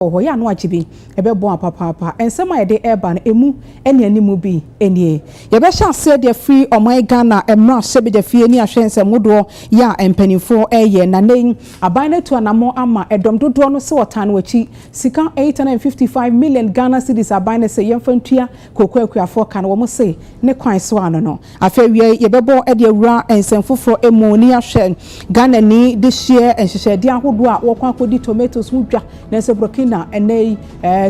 wɔ hɔ, yɛ ano agye bi, ɛbɛboa papaapa. Nsɛm a ɛde reba no, ɛmu nnianimu bi nie. Yɛbɛhyɛ aseɛ de afiri ɔman Ghana mmarahyɛbadwafie ne ahwɛ nsɛm hodoɔ yɛ a mpaninfoɔ reyɛ. Na nnɛ yi, aban no atu anammɔn ama ɛdɔm dodoɔ no sɛ wɔtaa no akyi. Sika 855 million Ghana cedis aban no se yɛmfa ntua. Kooko akuafoɔ ka no, wɔn se, ne kwan so ano no. Afei awiei, yɛbɛbɔ de awura nsɛm foforɔ mu ne yɛahwɛ Ghanani dehyeɛ nhyehyɛdeɛ ahodoɔ a wɔkɔ akɔdi tomatoes ho dwa, nanso Burkina ɛnnɛ yi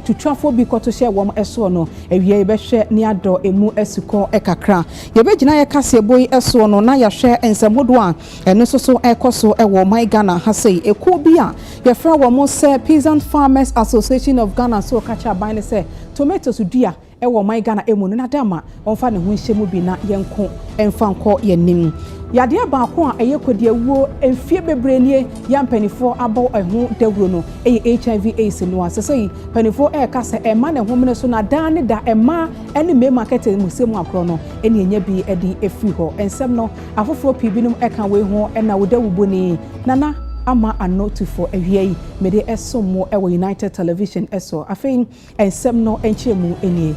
tutwafoɔ bi kɔto hyɛɛ wɔn soɔ no. Awiei yɛbɛhwɛ ne yɛadɔ ɛmu asukɔ kakra. Yɛbɛgyina yɛn kaseɛbɔ yi soɔ no na yɛahwɛ nsɛm hodoɔ a Ɛno nso so ɛrekɔ so wɔ ɔman Ghana ha sei. Ekuo bi a yɛfrɛ wɔn sɛ Peasant Farmers Association of Ghana nso reka kyerɛ aban no sɛ tomatoes dua wɔ ɔman Ghana mu no nada ma wɔmfa ne ho nhyɛ mu bi na yɛnko mfa nkɔ yɛn anim. Yadeɛ baako a ɛyɛ kɔdiawuo mfeɛ bebree nie yɛ a mpanimfoɔ abɔ ɛho dawuro no yɛ HIV AIDS no a sesei mpanimfoɔ reka sɛ ɛmma ne homene so na daa ne da mmaa ne mmarima nkɛtɛmusɛm agorɔ no ɛne ɛnya bi de afiri hɔ. Nsɛm no Afoforɔ pii binom ka wei ho na wo Dawuboni, Nana Ama Ano Tufo. Awia yi, mede ɛsom mo wɔ United Television so. Afei nsɛm no nkyerɛmu nie.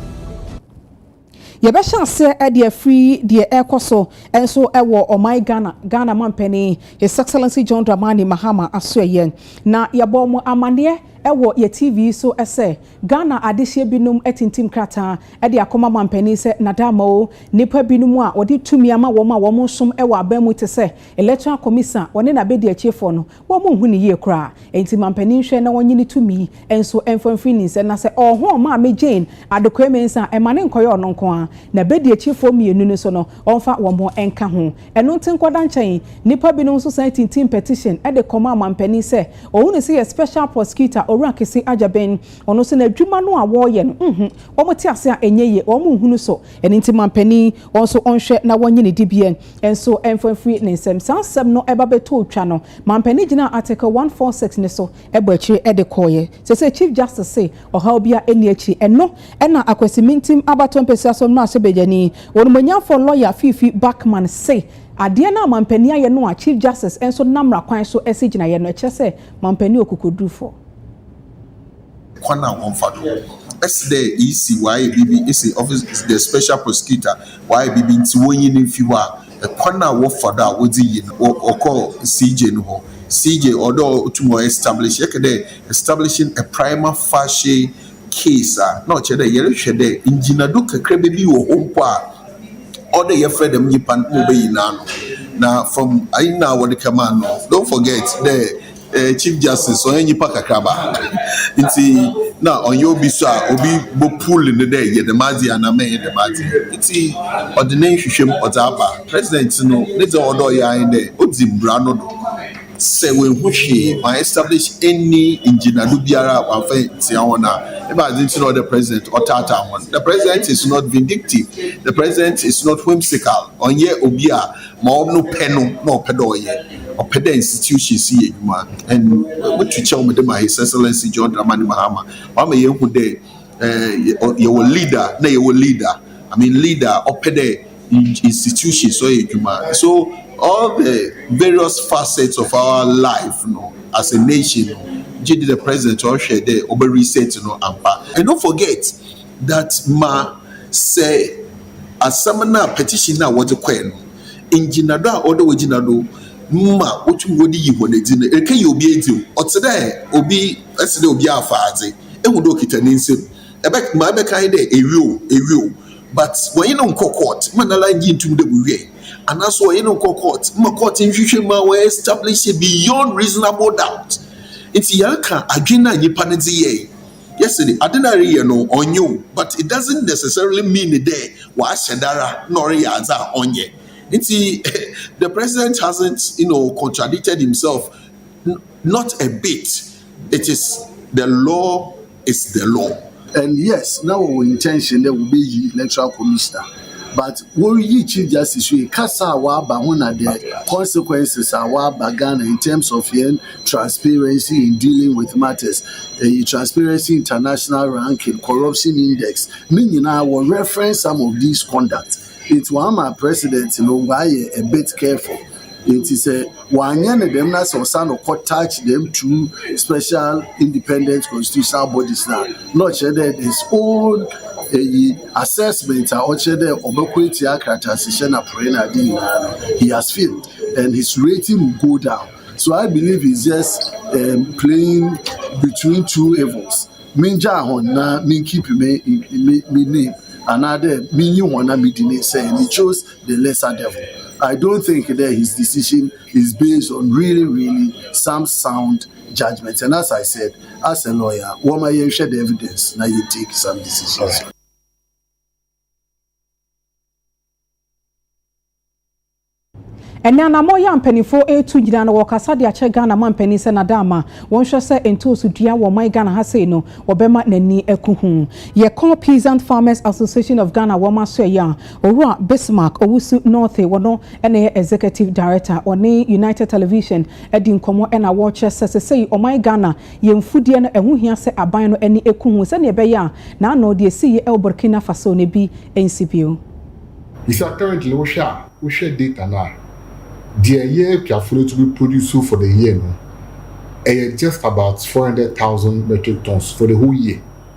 Yɛbɛhyɛ aseɛ de afiri deɛ ɛrekɔ so nso wɔ ɔman Ghana, Ghana Mampanin His Excellency John Dramani Mahama asoɛeɛ, na yɛabɔ mo amanneɛ wɔ yɛ TV yi so sɛ Ghana adehyeɛ binom atintim krataa de akɔma manpanin sɛ Nadama o, nnipa binom a wɔde tumi ama wɔn a wɔn som wɔ aban mu te sɛ Electoral Commission a wɔne no abɛdiakyirefoɔ no, wɔn nhu no yie koraa. Enti manpanin nhwɛ na ɔnyi ne tumi yi nso mfa mfiri ne nsam na sɛ ɔɔhɔn Maame Jane Adequaye-Mensah a, mma no nkɔyɛ ɔno nko ara. N'abɛdiakyirefoɔ mmienu no nso no, ɔmfa wɔn nka ho. Ɛno nti nkɔda nkyɛn yi, nnipa binom nso san tintim petition de kɔma amanpanin sɛ ohu no sɛ yɛ special prosecutor Owura Kese Agyabeng. Ɔno nso n'adwuma no a wɔreyɛ no, nhun, wɔte ase a ɛnyɛ yie, wɔnhu no so. Ɛno nti manpanin, wɔn nso wɔnhwɛ na wɔnyi ne dibea nso mfa mfiri ne nsam. Saa nsɛm no ba bɛtɔɔ twa no, manpanin gyinaa Article 146 no so bɔ akyire de kɔeɛ. Seesei Chief Justice se ɔhaw biara nni akyiri. Ɛno na Akwasi Mintim abatoɔ mpasua so mmarahyɛbadwani, onimuonyamfoɔ lɔya Fiifi Backman se adeɛ no a mampanin ayɛ no a Chief Justice nso nam mmara kwan so asi gyinaeɛ no, ɛkyerɛ sɛ mampanin yɛ ɔkokodurufoɔ. Kwan a wɔmfa do si dɛ iyi si wɔayɛ biribi esi office the special prosecutor wɔayɛ biribi ntsi wonyi no mfi hɔ a, Kwan a wɔfa do a wɔdze yi no, wɔ wɔkɔɔ CJ no hɔ. CJ ɔwɔ dɛ otum ɔ establish, yɛkɛ dɛ establishing a prima facie case a, na ɔkyerɛ dɛ yɛrohwɛ dɛ ngyinado kakraba bi wɔ hɔ mpo a ɔwɔ dɛ yɛfrɛ dɛm nyimpa no ma obeyi n'ano. Na from ayi no a wɔdze kɛmaa no no, don't forget dɛ. Eh, Chief Justice ɔnyɛ nyimpa kakraba ntsi na ɔnnyɛ obi so a obi bɔ pull no dɛ yɛ dɛm adze yi anaa mɛnyɛ dɛm adze yi. Ntsi ɔdze ne nhwehwɛ mu ɔdze aba. President no ne dza ɔwɔ dɛ ɔyɛ ara nye dɛ odzi mbra no do. Sɛ oennhu hwee, ɔann establish any ngyinado biara a ɔammfa enntsia hɔn a, ebɛnadze ntsi na ɔwɔ dɛ President ɔtaataa hɔn? The President is not vindictive, the President is not whimsical, ɔnnyɛ obi a Ma ɔno pɛ no na ɔpɛ dɛ ɔyɛ, ɔpɛ dɛ institutions yɛ edwuma and moto kyɛw mede ma His Excellency John Dramani Mahama, ɔama yeehu dɛ eh yɛwɔ leader na yɛwɔ leader, I mean leader a ɔpɛ dɛ institutions ɔyɛ edwuma. So all the various facets of our life no as a nation no gyedɛ dɛ President ɔhwɛ dɛ ɔbɛ reset no ampa. And don't forget, that ma sɛ asɛm no a petition no a wɔdze kɔe no ngyinado a ɔwɔ dɛ wogyina do ma wotum wɔdze yi hɔn edzi no erekeyi obi edzi o, ɔtse dɛ obi ese dɛ obi afa adze ehu dɛ okitsa ne nsamu ɛbɛ ma ebɛka nye dɛ ewie o ewie o but wɔnye no nkɔ court ma nara nngye nntum dɛ wowiae anaa so wɔnye no nkɔ court ma court nhwehwɛ mu a wɔ establish beyond reasonable doubt ntsi yɛreka adwen a nyimpa no dze yɛe. Yes de, ade no a ereyɛ no ɔnnyɛ o but it doesn't necessarily mean dɛ ɔahyɛ da ara na ɔreyɛ adze a ɔnnyɛ. Ntsi the president hasn't you know contradicted himself not a bit, it is the law is the law. And yes, na wɔwɔ intention dɛ wobeyi electoral commissioner but wɔreyi chief justice yi kasa a waba ho na the consequences a waba ghana in terms of yɛn transparency in dealing with matters ɛyi transparency international ranking corruption index ne nyinaa wɔ reference some of these conduct nti wɔn ama president no wɔayɛ a bit careful. Ntsi sɛ ɔannyɛ no dɛm na sɛ ɔsan no kɔ touch dɛm two special independent constitutional bodies no a, na ɔkyerɛ dɛ his own eyi assessment a ɔkyerɛ dɛ ɔbɛkɔ etsia krataasihyɛ na porɔe na adze nyinara no, he has failed and his rating will go down. So I believe he's just um, playing between two evils. Mengyaa hɔn na menkeep me me me name anaadɛ menyi hɔn na medi ne nsɛe and he chose the lesser devil. I don't think that his decision is based on really, really some sound judgment. And as I said, as a lawyer, what my you the evidence, now you take some decisions. ɛnɛ anamɔ yɛ mpanimfoɔ ɛretu nyinaa na wɔkasa de akyɛ ghana ma mpanin sɛ nada ama wɔnhwɛ sɛ ntooso dua wɔ ɔman ghana ha sei no wɔbɛma n'ani aku ho yɛkɔ peasant farmers association of ghana wɔn aso ɛyɛ a Owura Bismark Owusu Northe wɔ no na ɛyɛ Executive Director, ɔne United Television adi nkɔmmɔ na wɔrekyerɛ sɛ sesei ɔman Ghana yɛ mfudeɛ no ɛho hia sɛ aban no ani ku ho sɛdeɛ ɛbɛyɛ a n'ano deɛ ɛsiiɛ ɛwɔ Burkina Faso no bi nsi bio. Bisa currently wo hwɛ a wo hwɛ data no a deɛ yɛ akuafoɔ no tumi produce for the year no ɛyɛ just about four hundred thousand metric tons for the whole year.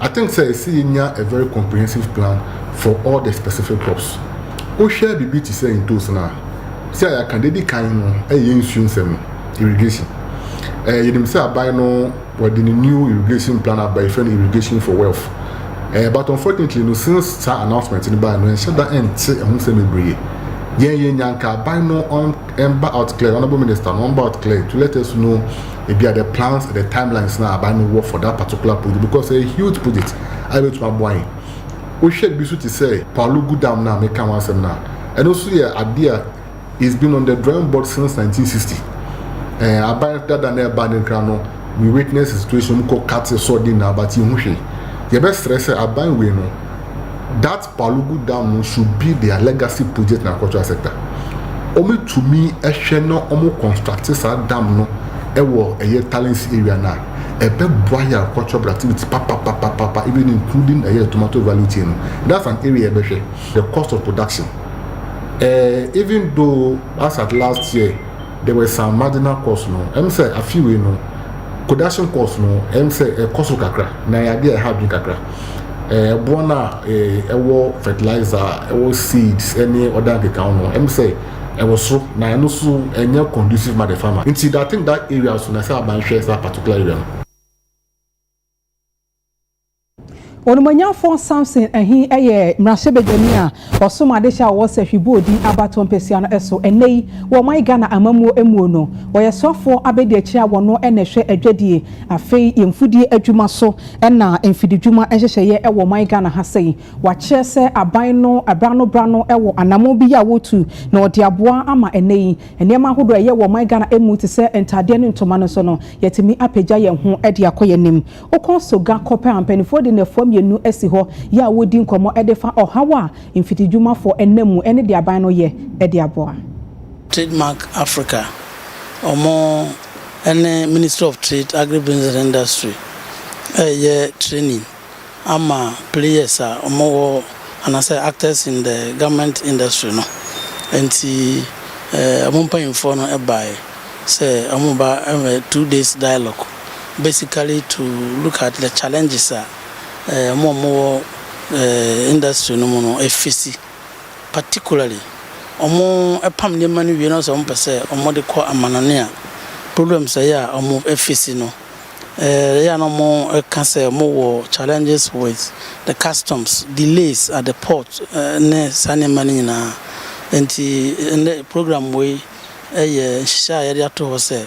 I think sɛ ɛsɛ yɛnya a very comprehensive plan for all the specific crops. Wohwɛ biribi te sɛ ntoosi no a, sɛ a yɛaka deɛ di kan no ɛyɛ nsuo nsɛm, irrigation. Eh, yɛnim sɛ aban no wɔde ne new irrigation plan aba yɛfrɛ no irrigation for wealth. Eh, but unfortunately no since saa announcement no bae no ɛnhyɛ da ɛnte ɛho nsɛm bebree. Yɛn yɛnya nka aban no ɔn ɛmba out clear, honourable minister no ɔmba out clear to let us know ebia the plans and the timelines na aban no wɔ for that particular project because ɛyɛ huge project a ebetumi aboa yɛn wohwɛ bi so te sɛ palugu dam na meka ho asɛm na ɛno nso yɛ adeɛ a it's been on the drawing board since 1960 ɛɛ aban dada na ɛba ne nkran no we witness the situation mu kɔ kate sɔɔden na abate ho hwee yɛbɛsrɛ sɛ aban wei no that Palugu Dam no nso bi de a Legacy Project na Agricultural Sector ɔmo tumi hwɛ na ɔmo construct saa dam no wɔ ɛyɛ Talents area no a, ɛbɛ boa yɛ agricultural productivity papapapapa even including ɛyɛ the tomato value chain no. That's an area ɛbɛ hwɛ the cost of production eh, even though as at last year. There were some marginal costs no, ɛm sɛ afe wei no production costs no ɛm sɛ ɛkɔ so kakra na ɛyɛ adeɛ a ɛha adwene kakra. Eh, ɛboɔ no a eh, ɛwɔ fertilizer, ɛwɔ seeds ɛne ɔda nkekaho no ɛm sɛ ɛwɔ so na ɛno so ɛnyɛ conducive ma the farmer. Nti I think that area so na sɛ abanhwɛ saa particular area no. Onumonyamfoɔ Samson Ahi yɛ mmarahyɛbadwani a ɔsom adehyɛ a ɔwɔ sahwi bɔɔ din abatoɔ mpesua no so. Ɛnnɛ yi, wɔ ɔman Ghana amammuo mmuo no, ɔyɛ soafoɔ abadiakyire a wɔno na ɛhwɛ adwadie, afei yɛn mfudie adwuma so na mfididwuma nhyehyɛeɛ wɔ ɔman Ghana ha sɛi. Wakyerɛ sɛ aban no berɛ ano berɛ ano wɔ anammɔn bi yɛ a wɔretu na ɔde aboa ama ɛnnɛ yi nneɛma ahodoɔ a ɛyɛ wɔ ɔman Ghana mu te sɛ ntadeɛ ne ntoma no so no, yɛatumi apagya yɛn ho de akɔ yɛn anim. Wokɔ so ga kɔpɛ a mpanimfoɔ de nnafua mmienu asi hɔ yɛ a wɔredi nkɔmmɔ de fa ɔhaw a mfiridwumafoɔ nam mu ne deɛ aban no yɛ de aboa. Trademark Africa, wɔn ne Ministry of Trade, Agribusiness and Industry reyɛ training ama players a wɔwɔ anaasɛ actors in the garment industry no. Nti wɔn mpanyimfoɔ no baeɛ sɛ wɔreba two days dialogue. basically to look at the challenges a wɔn a wɔwɔ industry no mu no face, particularly wɔpam nneɛma no wie na sɛ wɔpɛ sɛ wɔde kɔ amanɔne a, problems a ɛyɛ a wɔface no. Ɛyɛ a na wɔka sɛ wɔwɔ challenges with the customs, delays at the port ne saa nneɛma no nyinaa. Nti ɛnnɛ program wei yɛ nhyehyɛe a yɛde ato hɔ sɛ.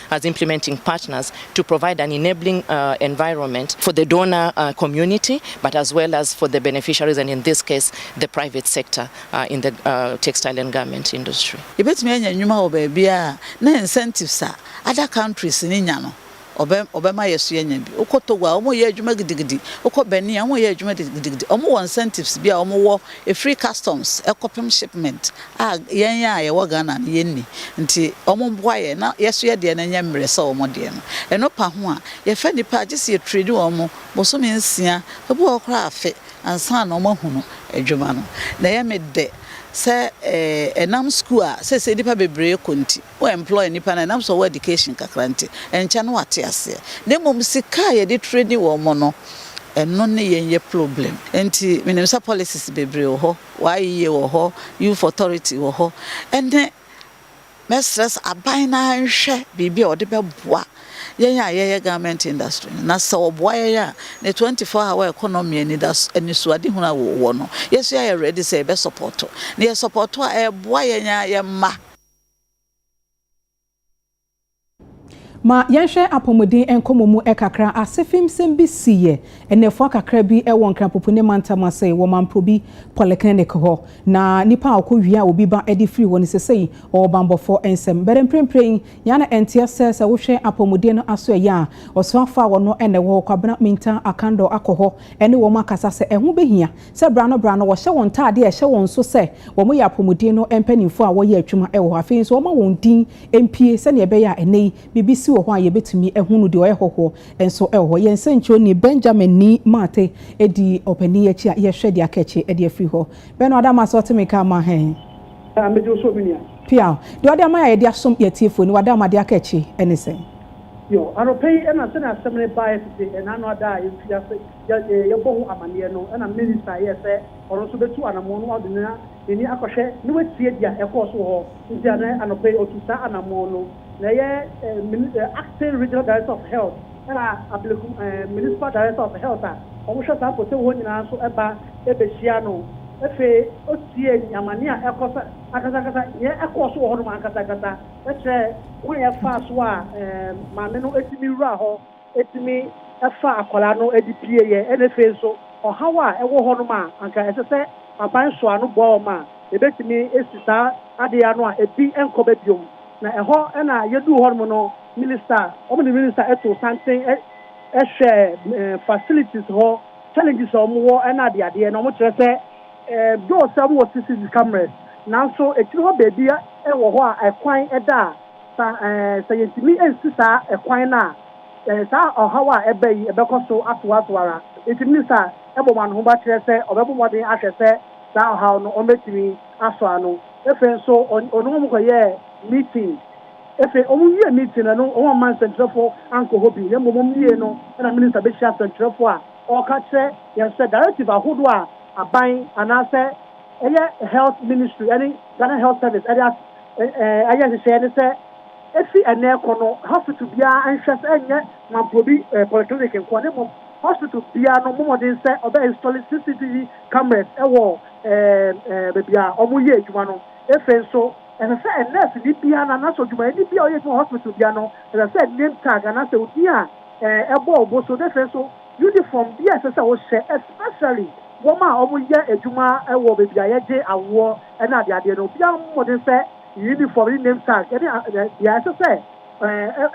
as implementing partners to provide an enabling environment for the donor community but as well as for the beneficiaries and in this case the private sector in the textile and garment industry. Yɛbɛtumi anya nnwuma wɔ baabiara a na incentives a other countries no nya no wɔbɛma yɛn so yɛanya bi. Wokɔ Togo a, wɔyɛ adwuma gidigidi. Wokɔ Benin a, wɔyɛ adwuma gidigidi. Wɔwɔ incentives bi a wɔwɔ ɛfiri customs kɔpem shipment a yɛn a yɛwɔ Ghana no yɛnni nti wɔn boa yɛn na yɛso yɛ deɛ no nyɛ mmerɛ sɛ wɔn deɛ no. Ɛno pa ho a yɛfɛ nnipa a gye sɛ yɛtredi wɔn bosome nsia, ebi wɔ hɔ koraa afe ansa na wɔn ahunu adwuma no. Na ɛyɛ me dɛ sɛ ɛnam sukuu a seesei nnipa bebree kɔ nti, Wo employ nnipa no a ɛnam sɛ ɔwɔ education kakra nti, ɛnkyɛ na wate aseɛ. Na mmom sika a yɛde traini wɔn no, ɛno ne yɛn yɛ problem. Nti menim sɛ policies bebree wɔ hɔ, YEA wɔ hɔ, Youth Authority wɔ hɔ, ɛne mɛsrɛ sɛ aban no ara nhwɛ biribi a ɔde bɛboa yɛn a yɛyɛ garment industry no. Na sɛ ɔboa yɛn a, ne twenty four hour economy anidaso anisoadehunu a wɔwɔ no, yɛn nso yɛayɛ ready sɛ yɛbɛ support. Na yɛ support a, ɛboa yɛn ara yɛn mma. Ma yɛnhwɛ apɔmuden nkɔmmɔ mu kakra. Asefimsɛm bi siiɛ nnafua kakra bi wɔ Nkrapopune mantam ase wɔ Mamprobi Polyclinic hɔ. Na nipa a ɔkɔ wia obi ba de firi hɔ no, sesei ɔwɔ banbɔfɔ nsam. Bɛde mprempren yɛa na ɛnteɛ sɛ sɛ wohwɛ apɔmuden no asoɛyɛ a, ɔsoafo a ɔno na ɛwɔ hɔ, Kwabena Mintah Akandor akɔ hɔ ne wɔn akasa sɛ ɛho bɛhia Sɛ bra no bra no wɔhyɛ wɔn ntaadeɛ a ɛhyɛ wɔn so sɛ wɔyɛ apɔmuden no mpanimfoɔ a wɔyɛ atwuma wɔ hɔ. Afei nso wɔma wɔn din mpue sɛdeɛ ɛbɛyɛ a ɛnnɛ yi biribi si wɔ hɔ a yɛbɛtumi ahunu no. Deɛ ɔyɛ hɔhoɔ nso wɔ hɔ. Yɛn sɛnkyerɛwni Benjamin Ni Mate di ɔpanin yi akyi a yɛhwɛ deɛ aka akyi de afiri hɔ. Bɛno Adama so ɔte me nka ama he? Daa megye wo so me nua. Piaw. Deɛ ɔde ama yɛ a yɛde asom yɛn atiefoɔ ani. W'Adama deɛ aka akyi ne sɛn? Yo, anɔpa yi na sɛdeɛ asɛm no baeɛ tete ɛnna no ada a yɛmfiri ase yɛ ee yɛbɔ ho amaneɛ no ɛna Minister yɛɛ sɛ ɔno nso bɛtu anamɔn no ɔde na nani akɔhwɛ na watie deɛ ɛkɔɔ so wɔ hɔ nti ɛnɛ anɔpa yi ɔtu saa anamɔn no na ɛyɛ eh min eh Acting Regional Director of Health ɛna Ablekuma eh Municipal Director of Health a wɔn hwɛ saa Poteo hɔ nyinaa nso ɛba ɛbɛhyia no ɛfei ɔtie ni amaneɛ a ɛkɔ so ankasa ankasa deɛ ɛkɔɔ so wɔ hɔ nom ankasa ankasa ɛkyerɛ kwan a ɛfaa so a eh maame no ɛtumi wuraa hɔ. tumi fa akwadaa no de pue yɛ, ɛna afei nso ɔhaw a ɛwɔ hɔ nom a anka ɛsɛ sɛ aban soa ano boa wɔn a ɛbɛtumi asi saa adeɛ ano a ɛbi nkɔ ba biom. Na ɛhɔ na yɛduu hɔ nom no minister, wɔn de minister too santen hwɛɛ facilities hɔ challenges a wɔwɔ ne adeadeɛ na wɔkyerɛ sɛ though sɛ wɔwɔ CCTV cameras nanso akyire hɔ baabi wɔ hɔ a ɛkwan da a Sa eh, sɛ yɛntumi ansi saa ɛkwan no a, eh, saa ɔhaw a ɛba yi ɛbɛkɔ so atoa so ara. Enti Minista bɔ wɔn ahoba kyerɛ sɛ ɔbɛbɔ mmɔden ahwɛ sɛ saa ɔhaw no wɔbɛtumi asɔ ano. Ɛfei nso ɔn, ɔne wɔn kɔyɛɛ meeting. Ɛfei wɔn wiee meeting no, ɛno wɔn amma nsɛntwerɛfoɔ ankɔ hɔ bi, na mmom wɔn wiee no na Minista bɛhyia nsɛntwerɛfoɔ a ɔreka akyerɛ yɛn sɛ directive ahodoɔ a aban anaasɛ ɛyɛ Health Ministry ɛne Ghana Health Service de ayɛ nhyehyɛɛ ne sɛ ɛfiri ɛnnɛ rekɔ no hospital biara nhwɛ sɛ ɛnyɛ Mamporobi Polyclinic nkoa na mmom hospital biara no mmɔ mmɔden sɛ ɔbɛ install CCTV cameras wɔ baabi a wɔyɛ adwuma no. Ɛfei nso ɛsɛ sɛ nurse ni biara na anaasɛ odwumayɛni biara a ɔyɛ adwuma wɔ hospital biara no ɛsɛ sɛ name tag anaasɛ odin a ɛbɔ wo bo so na ɛfei nso uniform bi a ɛsɛ sɛ wohyɛ especially Wɔn a wɔyɛ adwuma wɔ baabi a yɛgye awoɔ ne adeadeɛ no, obiara mmɔ mmɔden sɛ ne unifɔm, ne name tag, ne deɛ ɛsɛ sɛ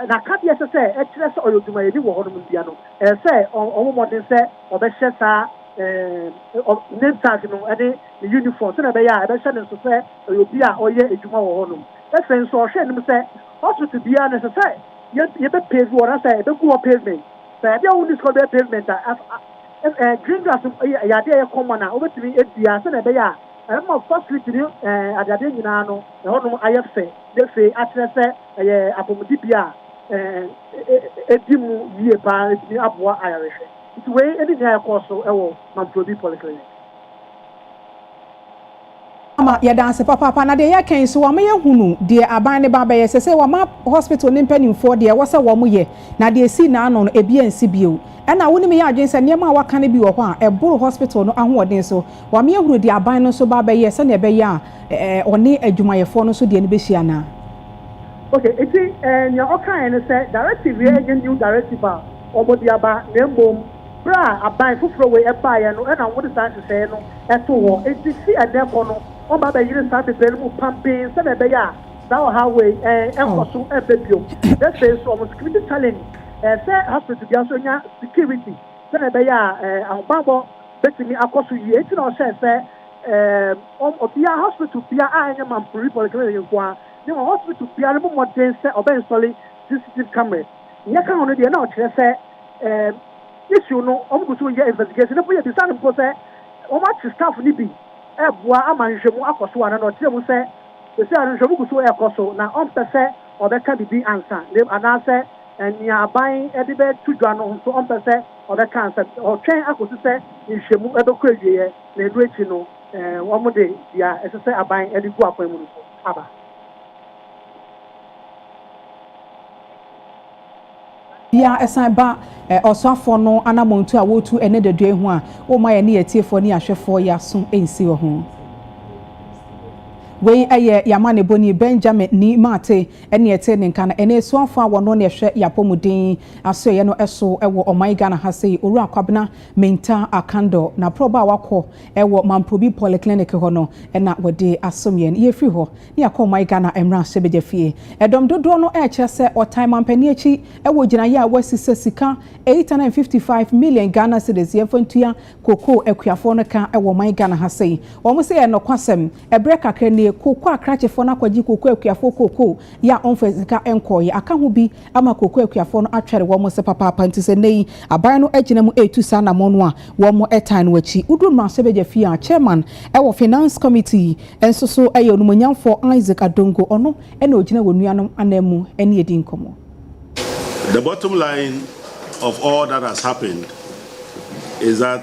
n'akadeɛ ɛsɛ sɛ ɛkyerɛ sɛ ɔyɛ odwumayɛni wɔ hɔnom no biara no, ɛsɛ sɛ ɔbɔ mmɔden sɛ ɔbɛhyɛ saa name tag no ne ne unifɔm sɛdeɛ ɛbɛyɛ a ɛbɛhyɛ no nso sɛ ɔyɛ obi a ɔyɛ adwuma wɔ hɔnom. Afei nso, ɔhwɛ anim sɛ hospital biara no, ɛsɛ sɛ yɛbɛpave hɔ anaasɛ ɛbɛgu hɔ pavement. Sɛ ɛdeɛ a wonni sika a wode bɛyɛ pavement a, Green grass yɛ adeɛ a ɛyɛ common a wobɛtumi adua sɛdeɛ ɛbɛyɛ a ɛbɛma facility ne adeadeɛ nyinaa no ɛhɔnom ayɛ fɛ na afei akyerɛ sɛ ɛyɛ apɔmudibea a ɛdi mu yie paa na ɛtumi aboa ayarehwɛ. Nti wei ne nea ɛkɔɔ so wɔ Mamprobi Polyclinic. Ama yɛ danse papaapa na deɛ yɛka yi so wama yɛ hunu deɛ aban ne ba bɛyɛ sesei wama hospital ne mpaninfoɔ deɛ ɛwɔ sɛ wɔn yɛ na deɛ esii na ano no ebi ansi bio ɛna wo ne me yɛ adwene sɛ nneɛma a waka no bi wɔ hɔ a ɛboro hospital no ahoɔden so wama yɛ hunu deɛ aban no nso ba bɛyɛ sɛnea ɛbɛyɛ a ɔne adwumayɛfoɔ no nso deɛ no bɛhyia na. Ok eti nea ɔkaeɛ ne sɛ directive yɛ ɛnyɛ new directive a wɔn de aba na mmom. Berɛ a aban foforɔ wei baeɛ no na wɔde saa nhyehyɛeɛ no too hɔ. Enti fi ɛnnɛ rekɔ no, wɔbɛba abɛyere saa bebree no mu pampen sɛdeɛ ɛbɛyɛ a saa ɔhaw wei renkɔ so mma bio. Na afei nso, wɔn security challenge sɛ hospital biara nso nya security sɛdeɛ ɛbɛyɛ a ahobammɔ bɛtumi akɔ so yie. Enti na wɔhyɛɛ sɛ wɔn obiara, hospital biara a ɛnyɛ Mampuri Polyclinic nko ara, ne wɔn hospital biara no mmɔ mmɔden sɛ wɔbɛ installe CCTV cameras. Nea ɛka ho no deɛ na ɔkyerɛ sɛ, Ɛɛm issue no wɔn gu so reyɛ investigation mpo yɛbisa no mpo sɛ wɔn akye staff no bi reboa ama nhwehwɛmu akɔ so anaa na ɔkyerɛ mu sɛ seesei ara nhwehwɛmu gu so rekɔ so na ɔmpɛ sɛ ɔbɛka biribi ansa na anaasɛ nea aban de bɛto dwa no nso ɔmpɛ sɛ ɔbɛka ansa ɔtwɛn akɔsi sɛ nhwehwɛmu bɛkɔ awieɛ na ɛno akyi no ɛɛ wɔn de deɛ ɛsɛ sɛ aban de gu akwan mu no so aba. Bia ɛsan ba ɔsoafoɔ no anamɔntu a wɔretu ɛnɛ dadua yi ho a, womma yɛne yɛn atiefoɔ ne ahwɛfoɔ yɛn aso nsi wɔ ho. Wei yɛ yɛn amanebɔni Benjamin Ni Mate ɛne ɛtee ne nka no ɛnɛ asuafoɔ a wɔno ne ɛhwɛ yɛn apɔmuden asoɛeɛ no so wɔ ɔman Ghana ha sei, Owura Kwabena Mintah Akandor. Na prɔba a wakɔ wɔ Mamprobi Polyclinic hɔ no na wɔde asom yɛn. Yɛfiri hɔ Ne yɛ kɔɔ my Ghana mmarahyɛbadwa fie. Ɛdɔm dodoɔ no ɛɛkyerɛ sɛ ɔtan manpanin akyi ɛwɔ gyinaeɛ a wasi sɛ sika eight hundred and fifty five million Ghana cedis yɛnfa ntua cocoa akuafoɔ no ka ɛwɔ ɔman Ghana ha sei. Wɔn se ɛyɛ nɔkwasɛm. Ɛbrɛ kakra nie cocoa krakyefoɔ no akɔgye cocoa akuafoɔ cocoa yɛ a wɔnfa sika nkɔɔeɛ. Aka ho bi ama kooko akuafoɔ no atwɛre wɔn ase papaapa nti sɛ nnɛ yi aban no agyina mu retu saa anammɔn no a, wɔtan no akyi. Woduru mmarahyɛbadwa fie a, Chairman wɔ Finance Committee nso so yɛ Onumonyamfoɔ Isaac Adongo, ɔno na ɔgyina wɔn nuanom ananmu ne adi nkɔmmɔ. The bottom line of all that has happened is that.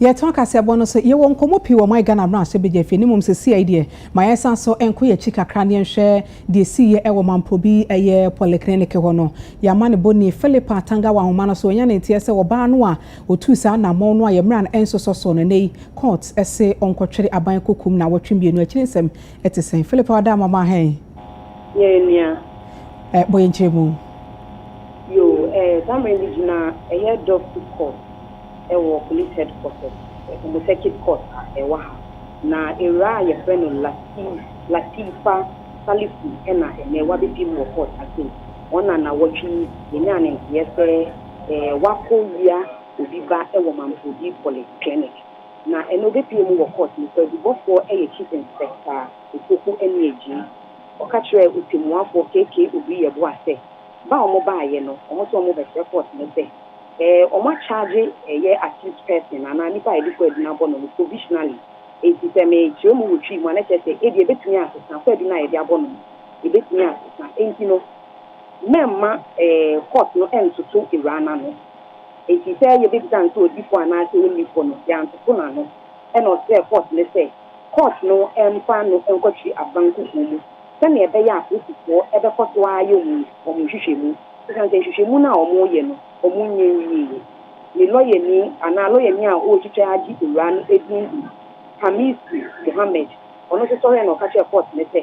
Yɛtɔn kaseɛbɔ no so. Yɛwɔ nkɔmmɔ pii wɔ my Ghana mmarahyɛbadwa fie no mmom sesei deɛ ma yɛnsan so nkɔ yɛn akyi kakra ne yɛnhwɛ deɛ ɛsiiɛ ɛwɔ Mamprobi ɛyɛ polyclinic hɔ no. Yɛama ne bɔni Philippa Tanga wɔ ahoma no so wanya ne nteɛ sɛ ɔbaa no a ɔtuu saa anammɔn no a yɛn mmara no ɛnsosɔ soɔ no ɛnnɛ yi court se ɔnkɔtwere aban kɔkum no awɔtwe mmienu akyiri nsɛm ɛte sɛn. Philippa wada mama hɛn. Yɛn nua. Bɔ yɛn nkyerɛmu. Yoo eh Zamren bi gyina ɛyɛ Doctors course ɛwɔ Police Headquarters ɔmo circuit court a ɛwɔ ha na awuraa a yɛfrɛ no Lateef Lateefa Salifu ɛna ɛnɛ wabɛbim wɔ court ase yi wɔn na nawɔtwe yi yɛnyaa ne nteɛ sɛ eh wakɔ wia obi ba ɛwɔ Mampodi Poly Clinic na ɛnɛ ɔbɛpue mu wɔ court mu kwaadubɔfoɔ ɛyɛ Chief Inspector Opoku Aniagyei ɔka kyerɛɛ Otemuafoɔ KK Obriyɛboah sɛ Ba a wɔbaeɛ no, wɔse wɔbɛsrɛ court no sɛ wɔn a charge ɛyɛ accused person anaa nipa a yɛde kɔ adi no abɔ no no provisionally. Enti sɛ me kyerɛ mu wɔ Twi mu a na ɛkyerɛ sɛ ebia ɛbɛtumi asesa, kɔ adi no a yɛde abɔ no no ɛbɛtumi asesa. Enti no mɛmma court no ntoto awuraa no ano. Enti sɛ yɛbɛbisa no sɛ ɔdi fɔ anaa sɛ ɔnni fɔ no, yɛantoto no ano. Ɛna ɔsrɛɛ court no sɛ court no mfa no nkɔtwe Abban kukuo mu. Sɛnea ɛbɛyɛ a Kristofo bɛkɔ so ara ayɛ wɔn nhwehwɛmu, esiane sɛ nhwehwɛmu no a wɔyɛ no, wɔnyɛ nwiei. Ne lɔyani anaa lɔyani a ɔretwitwa agye owura no din de Khamisi Mohammed. Ɔno nso sɔree na ɔka kyerɛɛ kɔɔto no sɛ,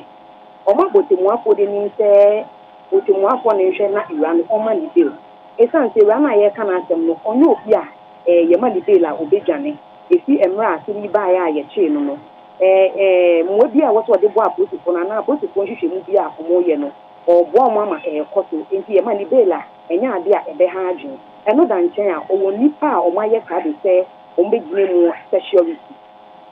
Ɔma ɔtemmuafoɔ de nim sɛ ɔtemmuafoɔ no nhwɛ na owura no ɔmma no bail, esiane sɛ owura no a yɛreka n'asɛm no, ɔnyɛ obi a yɛma no bail a ɔbɛdwane. Efi mmerɛ a asɛm yi baeɛ a yɛkyee no no, mmoa biara a ɛwɔ sɛ wɔde boa apolisifoɔ no anaa apolisifoɔ nhwehwɛmu bi a wɔreyɛ no, wɔreboa wɔn ama ɛrekɔ so. Enti ɛma ne bail a, ɛnyɛ adeɛ a ɛbɛha adwene. Ɛno da nkyɛn a, ɔwɔ nnipa a wɔayɛ saa de sɛ wɔbɛgyina mu security.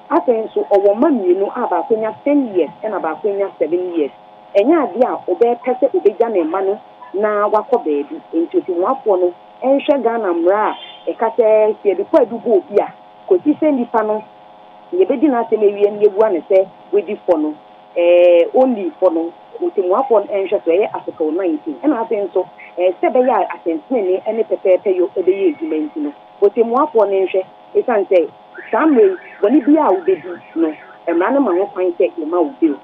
Afei nso, ɔwɔ mma mmienu a baako anya ten years ɛna baako anya seven years. Ɛnyɛ adeɛ a ɔbɛpɛ sɛ ɔbɛgya ne mma no na wakɔ baabi. Enti Otemuafoɔ no nhwɛ Ghana mmara a ɛka sɛ sɛ yɛde kwaadu bɔ obi a, kɔsi sɛ nnipa no Sɛ yɛbɛdi n'asɛm awie na yɛbua no sɛ wadi fɔ no, ɛɛ, ɔnnii fɔ no, ɔtɛmmuafoɔ no nhwɛsoɔ ɛyɛ asotɔɔ nan nti, ɛna afei nso, ɛɛ, sɛ ɛbɛyɛ a atɛntenenee ne pɛpɛɛpɛyɔ bɛyɛ adwuma nti no, ɔtɛmmuafoɔ no nhwɛ, ɛsiane sɛ saa mmerɛ yi bɔne biara a wobɛdi no, mmara no ma ho kwan sɛ yɛma wo bail.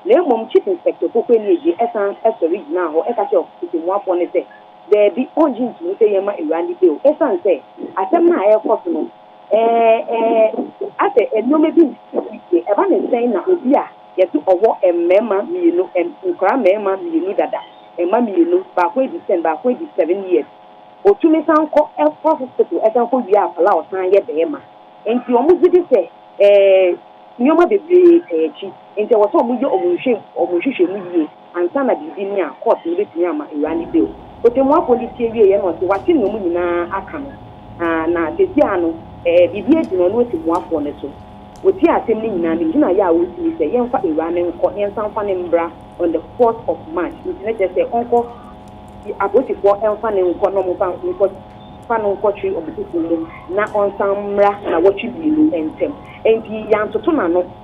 Na mmom Chief Inspector Opoku Anie-Gyie san sɔre gyinaa hɔ ka kyerɛɛ ɔtɛmmuafoɔ no sɛ, Daabi, ɔngye ntomu sɛ yɛmma awuraa no bail ɛsiane sɛ asɛm no a ɛrekɔ so no, Ɛɛ, ɛɛ, asɛ nnoɔma bi nsisi yiye. Ɛba no sɛn na obi a yɛse ɔwɔ mmarima mmienu, nkwadaa mmarima mmienu dada, mma mmienu, baako adi ten, baako adi seven years, otumi san kɔ ɛkɔ hospital ɛsan kɔ wie apala a ɔsan yɛ barima? Nti wɔn gye di sɛ ɛɛ nnoɔma bebree taa akyi, nti ɛwɔ sɛ wɔyɛ wɔn nhwɛ wɔn nhwehwɛmu yie. Ansa na biribi ne a, court no betumi ama awuraa no bail. Otemmuafo no tie wieeɛ na ɔse wate nea wɔn nyinaa aka no, na seesei ara no, biribi agyina ɔno otemmuafoɔ no so. Ɔtiee asɛm no nyinaa, ne gyinaeɛ a ɔresi ne sɛ yɛmfa awuraa no nkɔ na yɛnsan mfa no mmra on the fourth of March, nti na kyerɛ sɛ ɔnkɔ, apolisifoɔ mfa no nkɔ na wɔmfa nkɔ fa no nkɔtwe wɔn kukuo mu na ɔnsan mmra nnawɔtwe mmienu ntam. Enti yɛantoto n'ano.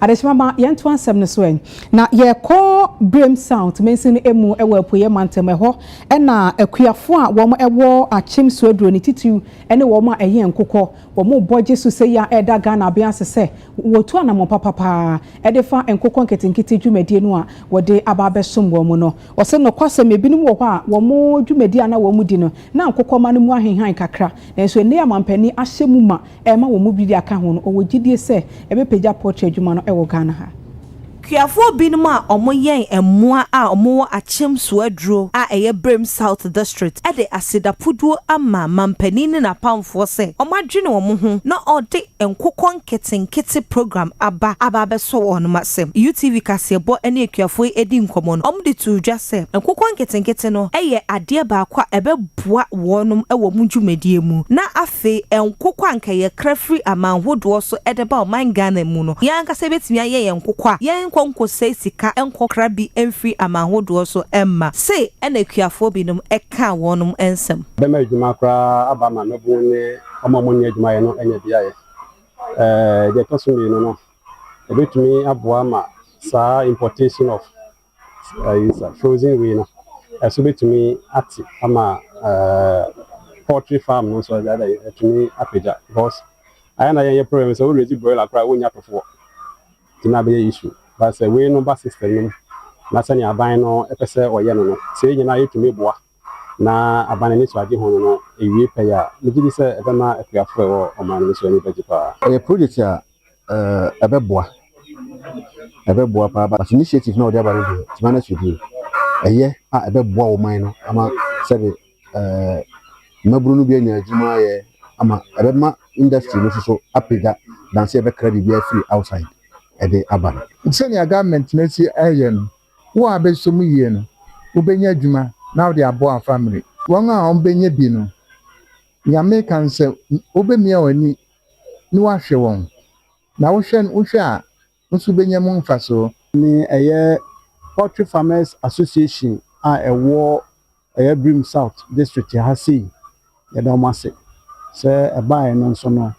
Adesima ma yɛnto asɛm no so ɛ. Na yɛrekɔ Birim South mansin no mu wɔ Apueeɛ mantam. Ɛhɔ na akuafoɔ a wɔwɔ Akyem Suaduro no titiriw ne wɔn a ɛyɛ nkokɔ. Wɔrebɔ gye so sɛi a ɛreda Ghana aben ase sɛ wɔtu anammɔn papa pa ara de fa nkokɔ nketenkete dwumadie no a wɔde aba abɛsom wɔn no. Wɔse nokwasɛm ebinom wɔ hɔ a wɔn dwumadie a na wɔdi no na nkokɔmma no mu ahenhan kakra nanso nnɛ yi amampanin ahyɛ mu ma Ɛma wɔn mu bi de aka ho no, ɔwɔ gyidie sɛ ɛbɛpagya pɔtri adwuma no wɔ Ghana ha. Kuafoɔ binom a wɔyɛn mmoa a wɔwɔ Akyem Suaduro a ɛyɛ Birim South District de asedapuduo ama manpanin ne n'apamfoɔ sɛ wɔadwene wɔn ho na wɔde nkokɔ nketenkete program aba aba abɛsɔ wɔn asɛm. UTV kaseɛbɔ ne akuafoɔ yi dii nkɔmmɔ no, wɔde too dwa sɛ nkokɔ nketenkete no yɛ adeɛ baako a ɛbɛboa wɔn wɔ wɔn dwumadie mu na Afei nkokɔ a anka yɛkra firi aman hodoɔ so de ba ɔman Ghana mu no, yɛn ankasa yɛbɛtumi ayɛ yɛn nkokɔ a yɛnkɔ nkɔsɛe sika nkɔkra bi mfiri aman hodoɔ so mma, sei na akuafoɔ binom kaa wɔn nsɛm. Bɛma adwuma koraa aba ma mmabunu ne wɔn a wɔnni adwuma yɛ no anya bi ayɛ. Deɛ ɛtɔ so mmienu no, ɛbɛtumi aboa ma saa importation of. Frozen wei no ɛso bɛtumi ate ama poultry farm no nso ɛtumi apagya because ayɛ na yɛnyɛ problem sɛ wo raise broiler koraa wonnya tofoɔ nti na abɛyɛ issue but sɛ wei no ba system no mu na sɛnea aban no pɛ sɛ ɔyɛ no no sɛ yɛn nyinaa yɛtumi boa na aban ani so agye ho no no awie pɛyɛ a, megye di sɛ ɛbɛma akuafo a ɛwɔ ɔman no mu nso ani bɛgye paa. Ɛyɛ project a ɛbɛboa, ɛbɛboa paa but initiative no a wɔde aba no deɛ, Timana Swedien, ɛyɛ a ɛbɛboa ɔman no ama sɛbe mmabunu no bi anya adwuma ayɛ ama ɛbɛma industry no nso so apagya than sɛ yɛbɛkra biribiara afiri outside de aba no. Sɛnea government no asi ayɛ no, Wo a bɛsɔ mu yie no, wobɛnya adwuma na wode abɔ afamire. Wɔn a wɔbɛnya bi no, Nyame ka sɛ, Wobɛmia w'ani ne woahwɛ wɔn, na wohwɛ wohwɛ a, wo nso wobɛnya mu mfasoɔ. ne ɛyɛ Poultry Farmers Association a ɛwɔ Ɛyɛ Birim South District ha sei. Yɛda wɔn ase sɛ ɛbaeɛ no nso no,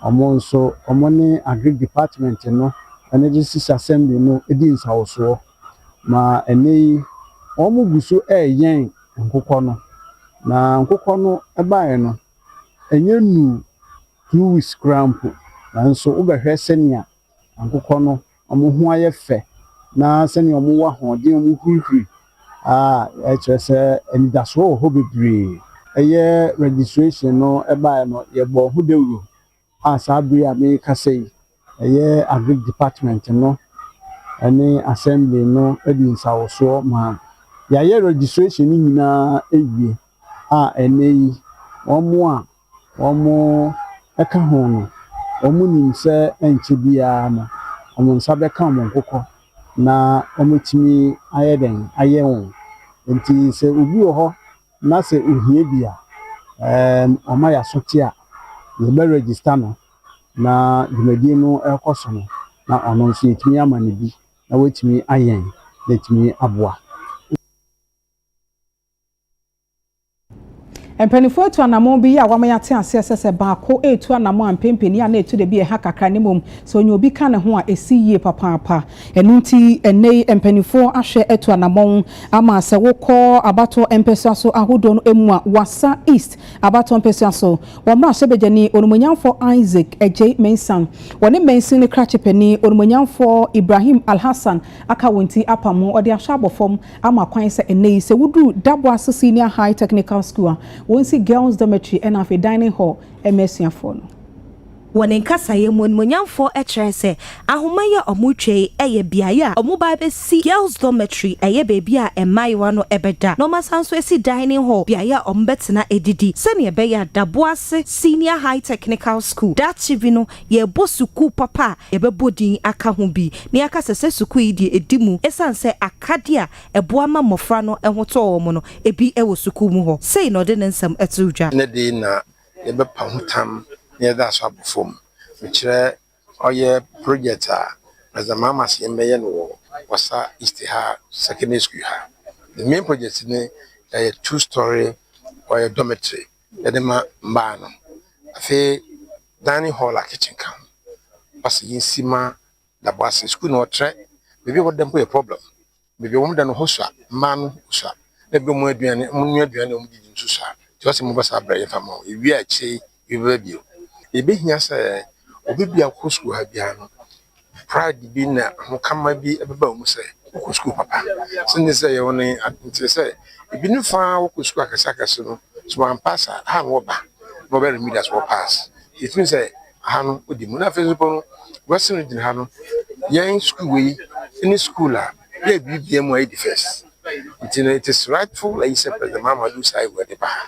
wɔn nso wɔn ne Agric Department no ne District Assembly no di nsawosoɔ ma ɛnnɛ yi wɔn gu so reyɛn nkokɔ no. Na nkokɔ no baeɛ no, ɛnyɛ nnuu two weeks koraa mpo nanso wobɛhwɛ sɛnea nkokɔ no wɔn ho ayɛ fɛ na sɛnea wɔwɔ ahoɔden, wɔhurihuri a, ɛkyerɛ sɛ anidasoɔ wɔ hɔ bebree. Ɛyɛ registration no baeɛ no, yɛbɔɔ ho dawuro a saa bere yi a merekasa yi, ɛyɛ Agric department no ne Assembly no de nsawosoɔ maa yɛayɛ registration no nyinaa awie a ɛnnɛ yi wɔn a wɔka ho no, wɔnim sɛ ɛrenkyɛ biara no, wɔn nsa bɛka wɔn nkokɔ na wɔatumi ayɛ dɛn, ayɛ wɔn. Enti sɛ obi wɔ hɔ na sɛ ohia bi a, ɛɛm wɔma yɛasote a, yɛbɛ register no na dwumadi no rekɔ so no, na ɔno nso yɛtumi ama no bi na watumi ayɛn na atumi aboa. Mpaninfoɔ atu anamɔn bi yɛ a wama yɛate aseɛ sɛ sɛ baako retu anamɔn a mpempeni a na etu de bi ɛha kakra na mmom sɛ ɔnya obi ka ne ho a esi yie papaapa. Ɛno nti ɛnnɛ yi mpaninfoɔ ahwɛ atu anamɔn ama sɛ wokɔ abatoɔ mpɛsoa so ahodoɔ no emu a Wassa East abatoɔ mpɛsoa so wɔ mmarahyɛbadwani Onimuonyamfoɔ Isaac Agyei Mensah wɔne mansin no krakye panin Onimuonyamfoɔ Ibrahim Alhassan aka wɔn ti apam ho ɔde ahwɛ abɔ fam ama kwan sɛ ɛnnɛ yi sɛ wodu Daboase Senior High Technical School a, wɔnsi girls dormitory ɛna afei dining hall ɛma asuafoɔ no. Wɔ ne nkasaeɛ mu, Animuonyamfoɔ kyerɛɛ sɛ ahoma yi a wɔretwa yi yɛ beaeɛ a wɔba abɛsi girls dormitory, ɛyɛ baabi a mmaayewa no bɛda na wɔasan nso asi dining hall, beaeɛ a wɔbɛtena adidi sɛdeɛ ɛbɛyɛ a Daboase Senior High Technical School daakye bi no yɛrebɔ sukuu papa a yɛbɛbɔ din aka ho bi na yɛaka sɛ sɛ sukuu yi deɛ ɛdi mu ɛsiane sɛ akadeɛ a ɛboa ma mmɔfra no ho tɔ wɔn no bi wɔ sukuu mu hɔ. Sei na ɔde ne nsɛm to dwa. Ne dee na yɛbɛpa ho tam na yɛde asɔ abɔ fam. Mekyerɛ ɔyɛ project a President Mahama se yɛmmɛyɛ no wɔ Wassa East ha Secondary School ha. The main project no ɛyɛ two story ɔyɛ dormitory. yɛde ma mbaa no. Afei dining hall a kitchen ka ho. Wɔpɛ sɛ yesi ma da bo ase. Sukuu no ɔtrɛ, beebi a wɔda mpo yɛ problem. Beebi a wɔda no hɔ sua, mbaa no hɔ sua. Na bi a wɔn aduane, wɔnoa aduane a wɔdidi nso sua. Ntsi ɔse moba saa ber a yɛmfa mma wo. Yewie a akyire yi yɛbɛba bio. Yebehia sɛ obi biako sukuu ha biara no Pride bi na ahokama bi bɛba mu sɛ wokɔ sukuu papa. Sɛnea ɛsɛ sɛ ɛyɛ wo no nkyerɛ sɛ ebi ne fã ara wokɔ sukuu akɛseakɛse no, sɛ wɔampaase a, ha no wɔba na wɔbɛ remit as wɔpaase. Gye tom sɛ ha no wodi mu. Na afei nso mpo no, wɛse no gyina ha no, yɛn sukuu wei ne sukuu a. yɛ biribiara mu a edi first nti no it is rightful ayi sɛ President Mahamadou Sy wɔ de ba ha.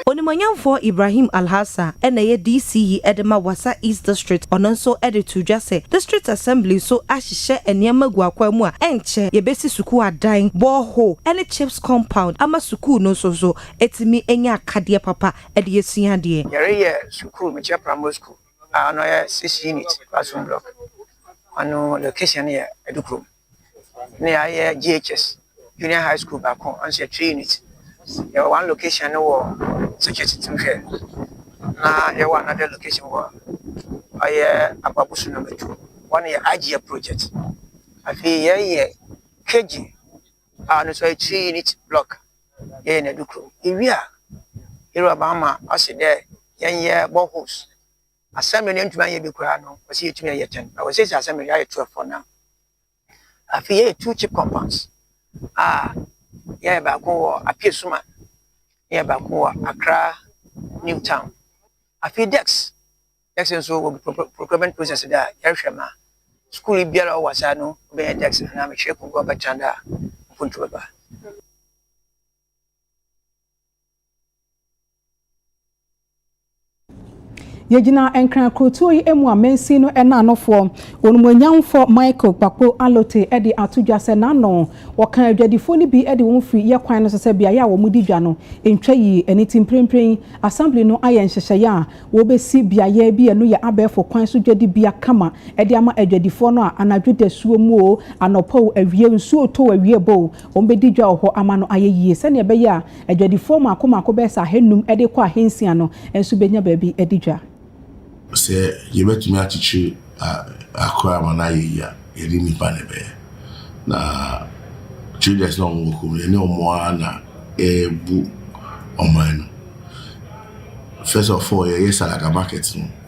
Onimuonyamfoɔ Ibrahim Alhassa na ɛyɛ DC yi de ma Wassa East District, ɔno nso de too dwa sɛ District Assembly nso ahyehyɛ nneɛma agu akwaa mu a ɛnkyɛ yɛbɛsi sukuu adan, borehole ne CHPS compound ama sukuu no nso so atumi anya akadeɛ papa de asua adeɛ. Yɛreyɛ sukuu Mekyia Primary School a ɔno yɛ six unit classroom block, ɔno location no yɛ Adukrom. ne ayɛ JHS junior high school baako nso yɛ three unit yɛwɔ one location no wɔ security team hwɛ na yɛwɔ another location wɔ ɔyɛ ababosu number two hɔ no yɛ agyeɛ project afei yɛyɛ KG a ɔno nso yɛ three unit block yɛyɛ no adukrom yɛwie a yɛwura bamma ɔse dɛ yɛnyɛ boreholes. Assembly no yɛntumi anyɛ bi koraa no wɔsi yɛtumi ayɛ ten na wɔsiesie assembly no yɛayɛ twelve for now afei yɛyɛ two cheap compounds a yɛyɛ baako wɔ apue suma na yɛ baako wɔ akra new town afei dex dex nso wɔ procurement process da a yɛrehwɛ ma sukuu yi biara ɔwɔ asa no bɛyɛ dex anaa mekyerɛ kunkun ɔbɛtena da a mpuntu bɛba Yɛgyina Nkran kurotuo yi mu a mansin no naanofoɔ, Onimuonyamfoɔ Michael Kpakpo Allote de ato dwa sɛ n'ano wɔka adwadifoɔ no bi de wɔn firi yɛ kwan no so sɛ beaeɛ a wɔdi dwa no ntwa yie. Ɛno nti mprempren yi Assembly no ayɛ nhyehyɛeɛ a wɔbɛsi beaeɛ bi a ɛno yɛ abɛɛfo kwan so dwadibea kama de ama adwadifoɔ no a anadwo dasuo mu o, anɔpa o, awia o, nsuo tɔ o, awia bɔ o, Wɔbɛdi dwa wɔ hɔ ama no ayɛ yie, sɛdeɛ ɛbɛyɛ a adwadifoɔ mmaako mmaako bɛyɛ sɛ ahanum de rekɔ ahansia no nso bɛnya baabi adi dwa. Sɛ yɛbɛtumi akyekyere akra ama no ayɛ yie a, yɛne nnipa na ɛbɛyɛ. Na traders no a wɔwɔ kurom no, yɛne wɔn ara na ɛrebu ɔman no. First of all, yɛyɛ Salaga market no.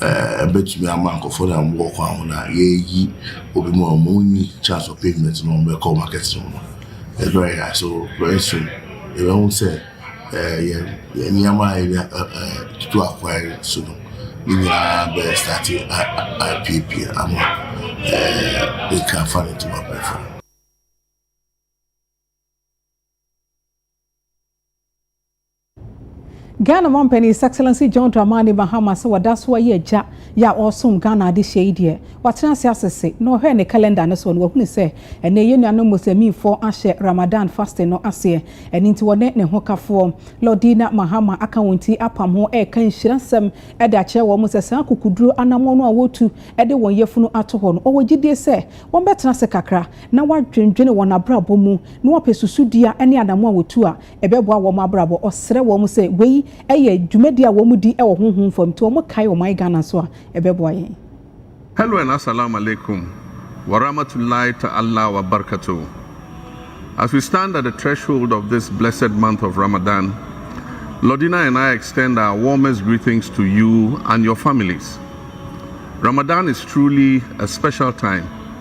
ɛɛ ɛbɛtumi ama nkorɔfoɔ no a wɔn wɔ kwan ho no a yɛɛyi obi mu a wɔn nni chance of payment no wɔn bɛkɔ market no mu. It's very high so very soon yɛbɛ hu sɛ ɛɛ yɛn yɛn nneɛma a yɛde ɛ ɛ tutu akwan so no ne nyinaa bɛ start a a apiepie ama ɛɛ they can find it to my platform. Ghana Mampanin His Excellency John Dramani Mahama sɛ wada so ayɛ agya yɛ a ɔresom Ghana adehyeɛ yi deɛ, watena ase asese na ɔhwɛɛ ne calendar no so no wahunu sɛ ɛnnɛ yɛn nuanom Musliminfoɔ ahyɛ Ramadan fasting no aseɛ ɛno nti wɔne ne hokafoɔ Laudina Mahama aka wɔn ti apam ho reka nhyira nsɛm de akyerɛ wɔn sɛ saa akokoduro anammɔn no a wɔretu de wɔn yafunu ato hɔ no ɔwɔ gyidie sɛ wɔbɛtena ase kakra na wɔadwendwene wɔn abrabɔ mu na wɔapɛ susudua ne anammɔn a wɔtu a ɛbɛboa wɔn abrabɔ. Ɔsrɛ wɔn sɛ wei yɛ dwumadi a wɔdi wɔ honhom fam, nti wɔkae wɔn ayɛ Ghana nso a, ɛbɛboa yɛn. Hello and Asalaam Alaikum Warahmatullahi Ta'allah Wabarkatuh As we stand at the threshold of this blessed month of Ramadan, Lordina and I extend our warmest greetings to you and your families. Ramadan is truly a special time.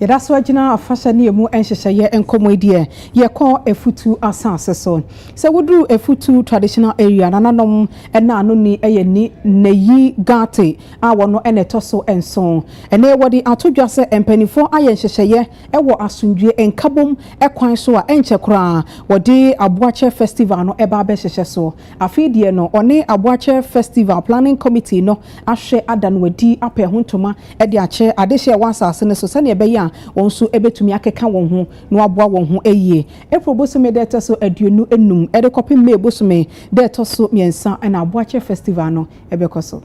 Yɛda so agyina afahyɛ ne emu nhyehyɛeɛ nkɔmmɔ yi deɛ yɛkɔ Afutu asase so. Sɛ woduru Afutu traditional area, nananom na ano ni yɛ ni Nayi Gate a wɔn na ɛtɔ so nson. Ɛnɛ wɔde ato dwa sɛ mpanimfoɔ ayɛ nhyehyɛeɛ wɔ asomdwoeɛ, nkabom kwan so a ɛnkyɛ koraa wɔde Aboakyɛ Festival no ɛba abɛhyehyɛ so. Afei deɛ no wɔne Aboakyɛ Festival Planning Committee no ahwɛ ada no adi, apɛ ɛho ntoma de akyɛ adehye a ɛwɔ asase no so sɛnea ɛbɛyɛ a wɔn nso betumi akeka wɔn ho na wɔaboa wɔn ho ayie. April bosome da a ɛtɔ so aduonu nnum de kɔpem May bosome da a ɛtɔ so mmiɛnsa na Aboakyɛ Festival no bɛkɔ so.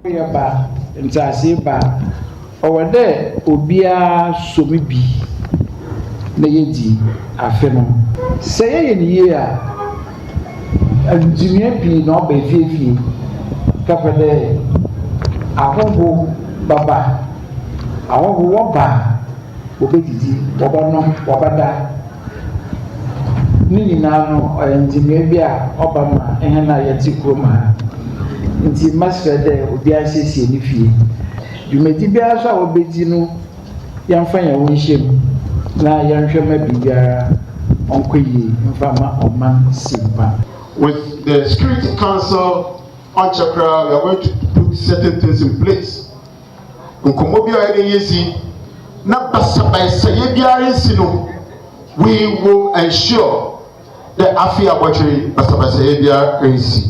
Awoyɛ ba, nteaseɛ ba. Ɔwɔ dɛ obiara sɔ mu bi na yedzi afe no. Sɛ yɛyɛ no yie a, ndzinoa pii na ɔba efie efie, kɛpɛ dɛ ahɔho bɛba. Ahɔho wɔba a, wobedzidzi, wɔbɔnom, wɔbɛda. Ne nyina no, ɔyɛ ndzinoa bi a ɔba ma hɛn a yɛtse kurom ha. Ntsi mɛserɛ dɛ obiara nsiesie ne fie. Dwumadzi biara so a wobedzi no, yɛmfa hɛnho nhyɛ mu na yɛnhwɛ ma biribiara ɔnkɔ yie mfa mma ɔman Simpa. With the security council ɔnkyɛ koraa we are going to put certain things in place nkɔmmɔ biara a yɛbɛyɛ dzi na basabasayɛ biara nnsi no we will ensure dɛ afei abɔtwer yi basabasayɛ biara nnsi.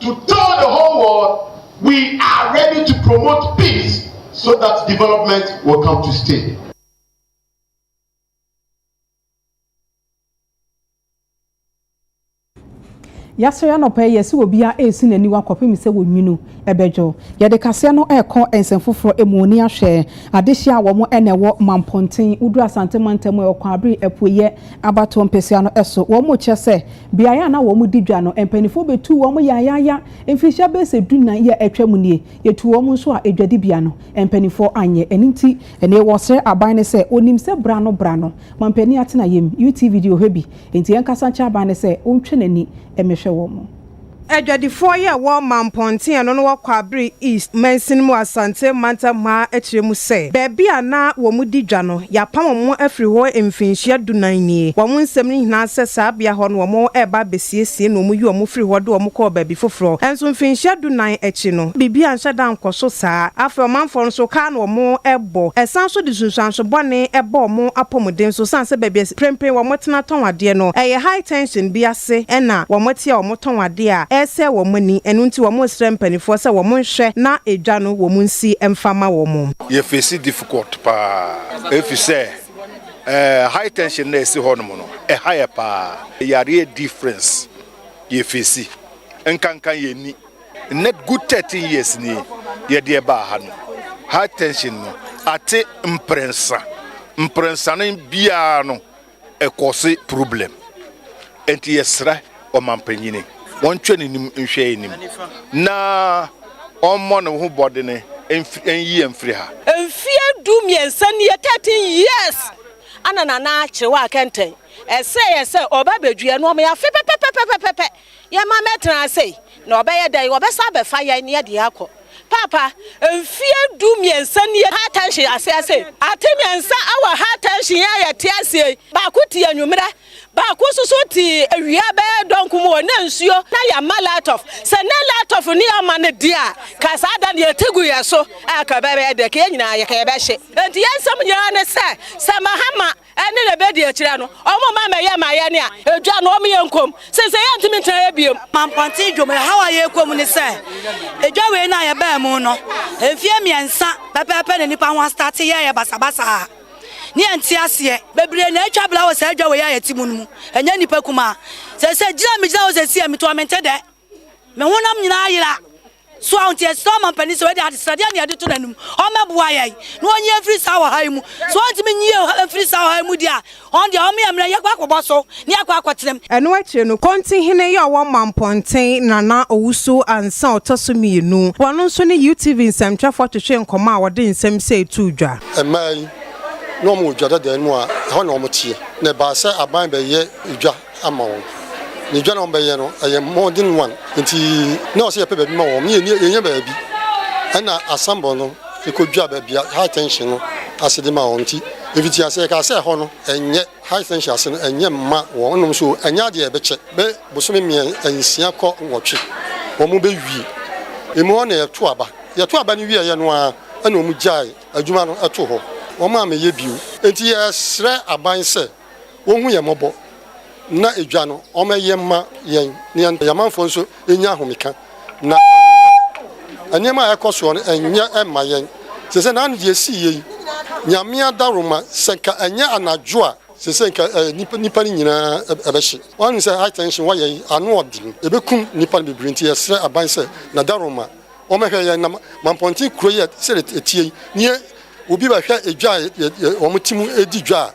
to tell the whole world we are ready to promote peace so that development will come to stay. yɛasɔre anɔpa yi yɛsɛ obiara ɛresi n'aniwa kɔpem sɛ wɔnwunu ɛbɛdwo yɛde kaseɛ no ɛrekɔ nsɛm foforɔ mu ni ahwɛ adehyeɛ a wɔn ɛna ɛwɔ mampɔnten woduru asante mantam ɛwɔ kwan abere apueyɛ abatoɔ mpɛsia no ɛso wɔn kyerɛ sɛ Beae a na wɔdi dwa no, mpanyimfo betuu wɔn yayaaya. Mfirihyia bɛyɛ sɛ dunan yi a atwam nie, yɛtuu wɔn nso a adwadibea no, mpanyimfo anyɛ. Ɛno nti, ɛnnɛ wɔsrɛ aban no sɛ onim sɛ bra no bra no, mampanin atenaeɛm. UTV deɛ ɔhwɛ bi, enti yɛnkasa nkyerɛ aban no sɛ ɔntwa n'ani mmɛhwɛ wɔn. Adwadifoɔ yi a wɔma mpɔnten no na wɔ Kwabre East mansin mu Asante mantam hɔ ara akyerɛ mu sɛ baabi a na wɔn di dwa no yɛapam wɔn afiri hɔ mfinhyia du nan nie. Wɔn nsɛm no nyinaa sɛ saa bea hɔ no wɔn reba abɛsiesie na wɔn yi wɔn firi hɔ de wɔn kɔɔ baabi foforɔ nso mfinhyia du nan akyi no biribi anhyɛ da ankɔ so saa. Afei ɔmanfoɔ no nso kaa na wɔn rebɔ ɛsan so de nsunsuanso bɔne bɔ wɔn apɔmuden so sane sɛ baabi a mprempren wɔn tena tɔn adeɛ no ɛyɛ high tension bi ase na wɔte a wɔtɔn ade a ɛresɛe wɔn ani, ɛno nti wɔresrɛ mpaninfoɔ sɛ wɔn nhwɛ na edwa no wɔn nsi mfa ma wɔn. Yɛ face difficult paa efisɛ ɛɛ high tension na esi hɔ nom no ɛha yɛ paa yareɛ difference yɛ face nkanka yɛ ni nnɛ good thirteen years ni yɛ deɛ baa ha no high tension no ate mprensa mprensa no biara no ɛkɔse problem nti yɛsrɛ ɔmanpanyini wɔntwɛ nenim nhwɛ anim na ɔmmɔ ne ho bɔdene nyi yɛn firi ha. Mfeɛ du mmiɛnsa nie, 13 years, ana Nana Kyerewaa kɛntɛn. Ɛsɛ yɛ sɛ ɔba bɛdua no, ɔma yɛ afe pɛpɛpɛpɛpɛpɛ. Yɛma mɛtena ase yi, na ɔbɛyɛ dɛn? Wɔbɛsan abɛfa yɛn na yɛde akɔ. Paapa, mfeɛ du mmiɛnsa nie High Tension ase ase yi, ate mmiɛnsa wɔ High Tension yi a yɛte aseɛ yi, baako te anwummerɛ, baako nso so te awia bɛyɛ dɔnko mu hɔ, na nsuo na yɛmma light off. Sɛ na light off ne yɛmma no deɛ a, ka saa da no yɛte gu yɛn so a ka ɛbɛyɛ dɛ, ka yɛn nyinaa yɛka yɛbɛhye. Enti yɛn nsɛm nyinaa ne sɛ, sɛ Mahama ɛne na ɛbɛdi akyire no ɔmo ma mɛyɛ ma yɛne a ɛdwa no ɔmo yɛ nkom sese yɛntumi ntena yɛ biom. Mampɔnten dwom ɛhaw a yɛkɔ mu ne sɛ ɛdwa wei no a yɛbaa mu no mfeɛ mmiɛnsa pɛpɛɛpɛ na nnipa ho astate yɛɛyɛ basabasa a ne yɛnte aseɛ, bebree na atwa bra wɔ saa dwa wei a yɛte mu no mu ɛnyɛ nnipa kumaa, sese gyina a megyina hɔ sese a meto ɔmente dɛ. Me honam nyinaa ayera. So a ɔnti ɛsrɛ ɔmampanin sɛ wɔde adesrɛdeɛ ne yɛde to n'anim ɔmmɛboa yɛn na wɔnyi yɛn firi saa ɔhaw yi mu. So ɔntumi nyi yɛn mfiri saa ɔhaw yi mu deɛ a, ɔno deɛ ɔmma yɛmmra yɛnkɔ akɔbɔ so na yɛakɔ akɔtenam. Ɛno akyire no, Konti hene yɛ ɔwɔ Mampɔnten, Nana Owusu Ansah ɔtɔ so mmienu. Ɔno nso ne UTV nsɛmtwerɛfoɔ twetwee nkɔmmɔ a wɔde nsɛm sei too dwa. Mmaa yi, na wɔwɔ dwa dada no mu a ɛhɔ na wɔteɛ, na ɛbaa sɛ aban bɛyɛ dwa ama wɔn. Na edwa na wɔbɛyɛ no, ɛyɛ mmɔden wan nti na ɔsɛ yɛpɛ baabi ma wɔn ne yɛn yɛnya baabi. Ɛna asambɔ no ekodwa baabi a high tension no ase de ma wɔn nti efiti ase yɛkaa sɛ ɛhɔ no ɛnyɛ high tension ase no ɛnyɛ mma wɔn nom so ɛnyɛ adeɛ a ɛbɛkyɛ bɛ bosome mmiɛ nsia kɔ nwɔtwe wɔn bɛwie emu hɔ na yɛto aba yɛto aba no wieɛ no ara ɛna wɔn gyae adwuma no ɛto hɔ wɔn ammɛyɛ bio nti yɛsrɛ aban sɛ. wɔhu yɛn mmɔbɔ na edwa no wɔma ɛyɛ mma yɛn na yɛn amanfoɔ nso nya ahomeka na nneɛma a ɛkɔ soɔ no ɛnyɛ mma yɛn sɛ sɛ naano deɛ ɛsii yɛ yi nyame adaworoma sɛ nka ɛnyɛ anadwo a sɛ sɛ nka nipa no nyinaa ɛbɛhye wɔn sɛ high tension wɔyɛ yi ano ɔden ɛbɛkum nipa no bebree nti yɛsrɛ aban sɛ nadaroma wɔmɛhwɛ yɛn na mampɔnten kuro yɛ sɛ ɛtie yi neɛ obi bɛhwɛ edwa a wɔn ti mu edi dwa a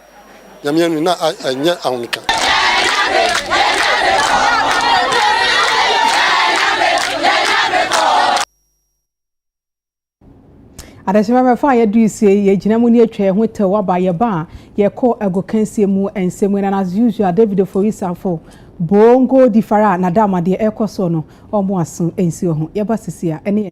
Nyame anu na ɛnyɛ ahomeka. Adehyema bɛfa a yɛduru sie yɛgyina mu ne atwa yɛn ho tɛw aba yɛba a yɛkɔ agokansie mu nsɛm mu na as usual David Oforisafo bongo di fara a nada ama deɛ ɛkɔ soɔ no ɔmo aso nsi wɔ ho yɛba sisi a ɛne